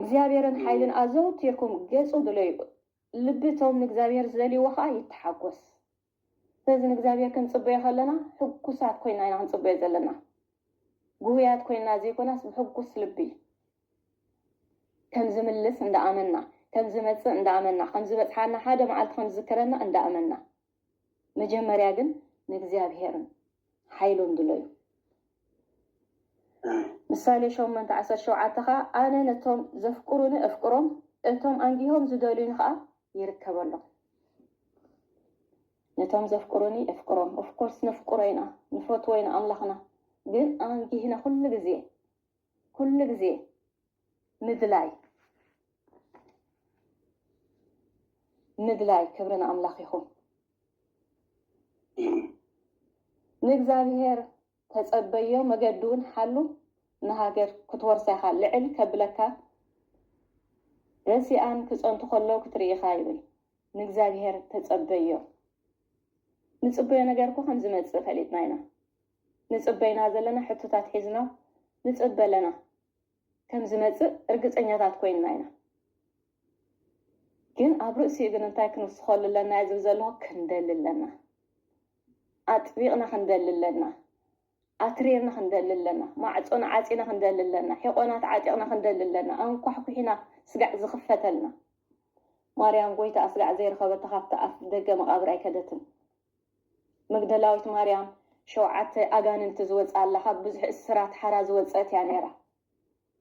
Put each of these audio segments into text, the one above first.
እግዚኣብሔርን ሓይልን ኣዘውቲርኩም ገጹ ድለዩ፣ ልቢ እቶም ንእግዚኣብሔር ዝደልይዎ ኸኣ ይተሓጐስ። ስለዚ ንእግዚኣብሔር ክንጽበዮ ኸለና ሕጉሳት ኰይና ኢና ክንጽበዮ ዘለና። ግሁያት ኰይና ዘይኮናስ ብሕጉስ ልቢ ከም ዝምልስ እንዳ ኣመና፣ ከም ዝመጽእ እንዳ ኣመና፣ ከም ዝበጽሓና ሓደ መዓልቲ ከም ዝዝክረና እንዳ ኣመና፣ መጀመርያ ግን ንእግዚኣብሔርን ሓይሉን ድለዩ። ምሳሌ ሸሞንተ ዓሰርተ ሸውዓተ ኸኣ ኣነ ነቶም ዘፍቅሩኒ እፍቅሮም፣ እቶም ኣንጊሆም ዝደልዩኒ ኸኣ ይርከበሎም። ነቶም ዘፍቅሩኒ እፍቅሮም፣ ኦፍኮርስ ነፍቅሮ ኢና፣ ንፈትዎ ኢና ኣምላኽና፣ ግን ኣንጊህና ኩሉ ግዜ ኩሉ ግዜ ምድላይ ምድላይ ክብሪ ንኣምላኽ ይኹን። ንእግዚኣብሄር ተጸበዮ መገዲ እውን ሓሉ ንሃገር ክትወርሳ ኢኻ ልዕል ከብለካ ረሲኣን ክጸንቱ ከለዉ ክትርኢ ኢኻ ይብል። ንእግዚኣብሄር ተጸበዮ ንጽበዮ ነገር እኮ ከም ዝመጽእ ፈሊጥና ኢና። ንጽበ ኢና ዘለና ሕቶታት ሒዝና ንጽበ ኣለና ከም ዝመጽእ ርግጸኛታት ኮይንና ኢና ግን ኣብ ርእሲኡ ግን እንታይ ክንውስኸሉ ኣለና እየ ዝብል ዘለኹ ክንደሊ ኣለና ኣጥቢቕና ክንደሊ ኣለና ኣትሪርና ክንደሊ ኣለና ማዕጾና ዓጺና ክንደሊ ኣለና ሒቆናት ዓጢቕና ክንደሊ ኣለና ኣንኳሕኩሒና ስጋዕ ዝኽፈተልና ማርያም ጎይታ ኣስጋዕ ዘይረኸበታ ካብቲ ኣፍ ደገ መቓብር ኣይከደትን መግደላዊት ማርያም ሸውዓተ ኣጋንንቲ ዝወጽኣላ ካብ ብዙሕ እስራት ሓራ ዝወጸት እያ ነይራ።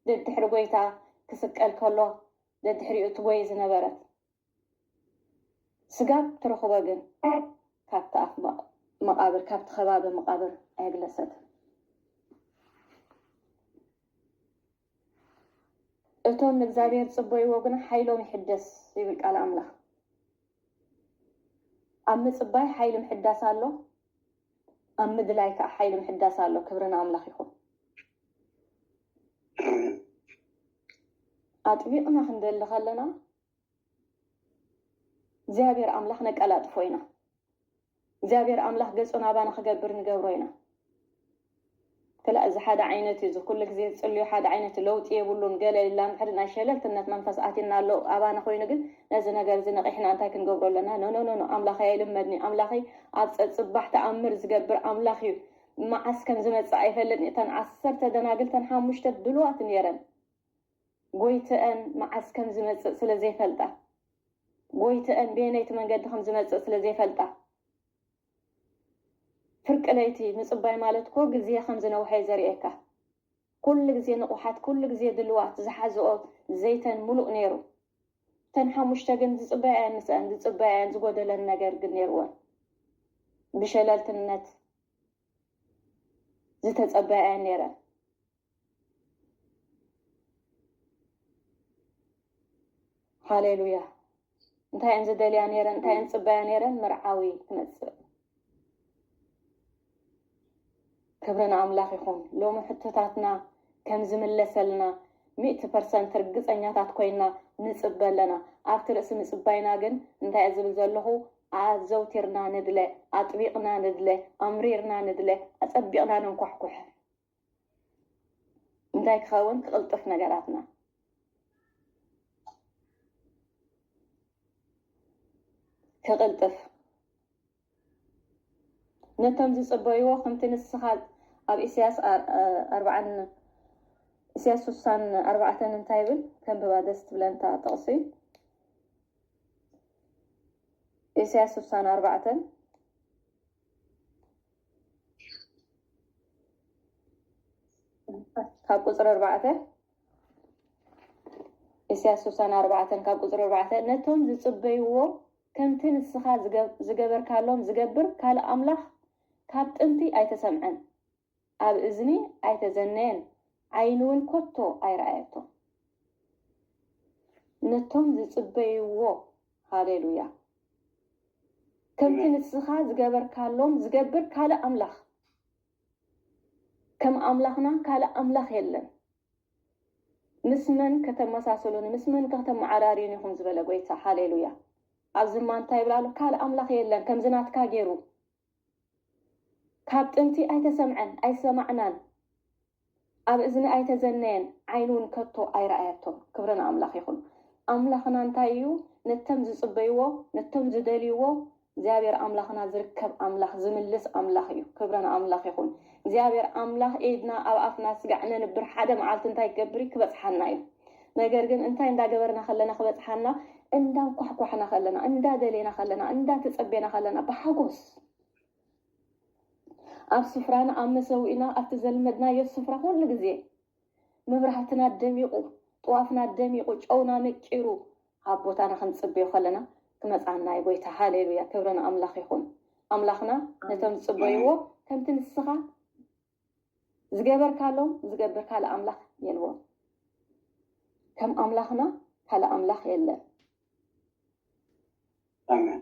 ደድሕሪ ጐይታ ክስቀል ከሎ ደድሕሪኡ ትጐዪ ዝነበረት ስጋ ትርኽቦ ግን ካብቲ ኣፍ መቓብር ካብቲ ከባቢ መቓብር ኣየግለሰትን። እቶም ንእግዚኣብሔር ዝጽበይዎ ግና ሓይሎም ይሕደስ ይብል ቃል ኣምላኽ። ኣብ ምጽባይ ሓይሊ ምሕዳስ ኣሎ፣ ኣብ ምድላይ ከኣ ሓይሊ ምሕዳስ ኣሎ። ክብሪ ንኣምላኽ ይኹን። ኣጥቢቕና ክንደሊ ከለና እግዚኣብሔር ኣምላኽ ነቀላጥፎ ኢና። እግዚኣብሔር ኣምላኽ ገጹ ናባና ክገብር ንገብሮ ኢና። ክላ እዚ ሓደ ዓይነት እዩ። እዚ ኩሉ ግዜ ዝጽልዮ ሓደ ዓይነት ለውጢ የብሉን። ገለ ኢልና እንድሕሪ ናይ ሸለልትነት መንፈስ ኣቲና ኣሎ ኣባና ኮይኑ ግን ነዚ ነገር እዚ ነቒሕና እንታይ ክንገብሮ ኣለና? ኖኖኖኖ ኣምላኸይ ኣይልመድኒ ኣምላኸይ ኣብ ጸጽባሕ ተኣምር ዝገብር ኣምላኽ እዩ። መዓስ ከም ዝመጽእ ኣይፈልጥን። እተን ዓሰርተ ደናግል እተን ሓሙሽተ ድሉዋት ነይረን። ጎይትኣን መዓስ ከም ዝመጽእ ስለ ዘይፈልጣ ጎይትኣን በየነይቲ መንገዲ ከም ዝመጽእ ስለ ዘይፈልጣ ፍርቂ ለይቲ ምጽባይ ማለት እኮ ግዜ ከም ዝነውሐ እዩ ዘርእየካ። ኩሉ ግዜ ንቑሓት ኩሉ ግዜ ድልዋት ዝሓዝኦ ዘይተን ምሉእ ነይሩ። እተን ሓሙሽተ ግን ዝጽበያ እየን ምስኣን ዝጽበያ እየን ዝጎደለን ነገር ግን ነይርወን ብሸለልትነት ዝተጸበያ እየን ነይረን። ሃሌሉያ እንታይ እየን ዝደልያ ነይረን እንታይ እየን ዝፅበያ ነይረን መርዓዊ ክመፅእ ክብሪ ንኣምላኽ ይኹን ሎሚ ሕቶታትና ከም ዝምለሰልና ሚእቲ ፐርሰንት ርግፀኛታት ኮይና ንፅበ ኣለና ኣብቲ ርእሲ ምፅባይና ግን እንታይ እየ ዝብል ዘለኹ ኣዘውቲርና ንድለ ኣጥቢቕና ንድለ ኣምሪርና ንድለ ኣፀቢቕና ነንኳሕኩሕ እንታይ ክኸውን ክቕልጥፍ ነገራትና ክቕልጥፍ ነቶም ዝፅበይዎ ከምቲ ንስኻ ኣብ ኢሳያስ ኣርባዓን ኢሳያስ ስሳን ኣርባዕተን እንታይ ይብል ከንብባ ደስ ትብለንታ ጥቕሲ ኢሳያስ ስሳን ኣርባዕተን ካብ ቁፅሪ ኣርባዕተ ኢሳያስ ስሳን ኣርባዕተን ካብ ቁፅሪ ኣርባዕተ ነቶም ዝፅበይዎ ከምቲ ንስኻ ዝገበርካሎም ዝገብር ካልእ ኣምላኽ ካብ ጥንቲ ኣይተሰምዐን ኣብ እዝኒ ኣይተዘነየን ዓይኒ እውን ኮቶ ኣይረኣየቶ ነቶም ዝፅበይዎ ሃሌሉያ ከምቲ ንስኻ ዝገበርካሎም ዝገብር ካልእ ኣምላኽ ከም ኣምላኽና ካልእ ኣምላኽ የለን ምስ መን ከተመሳሰሉኒ ምስ መን ከተመዓራርዩኒ ኢኹም ዝበለ ጎይታ ሃሌሉያ ኣብዚ እማ እንታይ ይብል ኣሎ ካልእ ኣምላኽ የለን ከምዚ ናትካ ገይሩ ካብ ጥንቲ ኣይተሰምዐን ኣይሰማዕናን ኣብ እዝኒ ኣይተዘነየን ዓይንውን ከቶ ኣይረኣየቶን ክብሪ ንኣምላኽ ይኹን ኣምላኽና እንታይ እዩ ነተም ዝጽበይዎ ነቶም ዝደልይዎ እግዚኣብሔር ኣምላኽና ዝርከብ ኣምላኽ ዝምልስ ኣምላኽ እዩ ክብሪ ንኣምላኽ ይኹን እግዚኣብሔር ኣምላኽ ኢድና ኣብ ኣፍና ስጋዕ ነንብር ሓደ መዓልቲ እንታይ ክገብር እዩ ክበጽሓና እዩ ነገር ግን እንታይ እንዳገበርና ከለና ክበጽሓና እንዳንኳሕኳሕና ከለና እንዳደሌና ከለና እንዳተጸቤና ከለና ብሓጎስ ኣብ ስፍራና ኣብ መሰዊእና ኣብቲ ዘልመድናዮ ስፍራ ኩሉ ግዜ መብራህትና ደሚቑ ጥዋፍና ደሚቑ ጨውና መቂሩ ኣብ ቦታና ክንጽበዮ ከለና ክመጽኣና እዩ ጎይታ ሃሌሉያ ክብረን ኣምላኽ ይኹን ኣምላኽና ነቶም ዝጽበይዎ ከምቲ ንስኻ ዝገበርካሎም ዝገብር ካልእ ኣምላኽ የልቦን። ከም ኣምላኽና ካልእ ኣምላኽ የለን። ኣሜን።